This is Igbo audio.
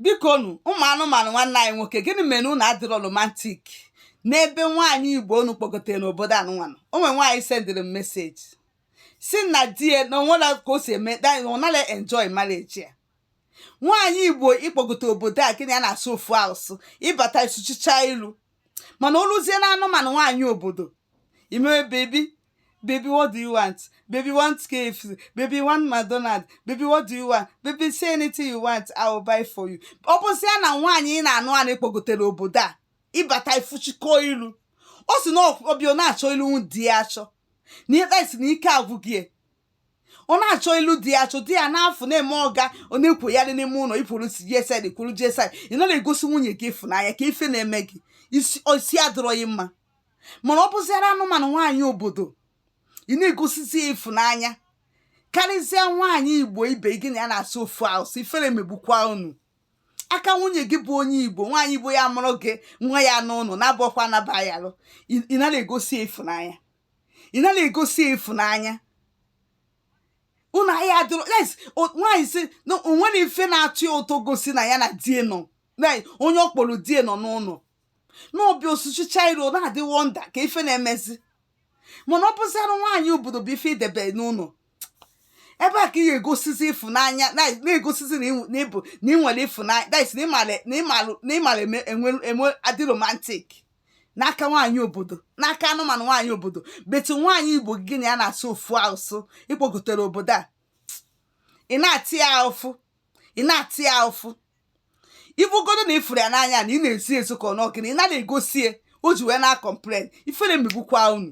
biko nu ụmụ anụmanụ nwanne anyị nwoke gịnị mere unu adịrọ romantik n'ebe nwaanyị igbo unu kpọgotere n'obodo anụmanụ o nwere nwaanyị sendịrị m meseji sị na di ya na o nwere ka o si eme ọ nara enjoy marriage ya nwaanyị igbo ị kpọgote obodo a gị na ya na-asụ ofu asụsụ ị bata ị sụchichaa iru mana o luzie na anụmanụ nwaanyị obodo ị mewe baby baby what do you want baby want KFC baby want McDonald baby what do you want baby say anything you want I will buy for you ọ bụzịa na nwaanyị ị na-anụ anụ ị kpọgotere obodo a ị bata i fuchikọ ilu ọ sị na ọ bịa na-achọ ilu di ya achọ na ikpe sị na ike agwụgo ya ọ na-achọ ilu di ya achọ di ya n'afọ na-eme ọga ọ na-ekwoyarị n'ime ụlọ ikwuru gsd kwuru gsd ị nara egosi nwunye gị ịfụnanya kee ife na-eme gị isi adịrọ gị mma mana ọ bụziara anụmanụ nwaanyị obodo ị na-egosizi ya ịfụnanya karịzịa nwaanyị igbo ibe gị na ya na-asụ ofu asụsụ ifere megbukwa unu aka nwunye gị bụ onye igbo nwaanyị igbo ya-amụrụ gị nwa ya n'ụlọ na-abụọkwa anaba ya alụ ị nara egosi ya ịfụnanya ị nara egosi ya ịfụnanya unu ahịa adịrọ yes o- nwaanyị si na o nwere ife na-atọ ya ụtọ gosi na ya na di ya nọ na onye ọ kpọrọ di ya nọ n'ụlọ na ọ bịa ọ sụchichaa iru na-adị wọnda kee ife na-emezi mana ọ bụziara nwaanyị obodo bụ ife i debe n'ụlọ ebe a ka ị ga-egosizi ịfụnanya na- na-egosizi na ị- na ị bụ na ị nwere ịfụnanya that is na ị mara na ị mara na ị mara eme- enwe enwe adị romantic n'aka nwaanyị obodo n'aka anụmanụ nwaanyị obodo but nwaanyị igbo gị na ya na-asụ ofu asụsụ ị kpọgotere obodo a ị na-ata ya afụfụ ị na-ata ya afụfụ ọ bụgodu na ị fụrụ ya n'anya na ị na-ezo ya ezo ka ọ na ọ gịnị ị nara egosi ya o ji wee na-akọmplen ifere megbukwa unu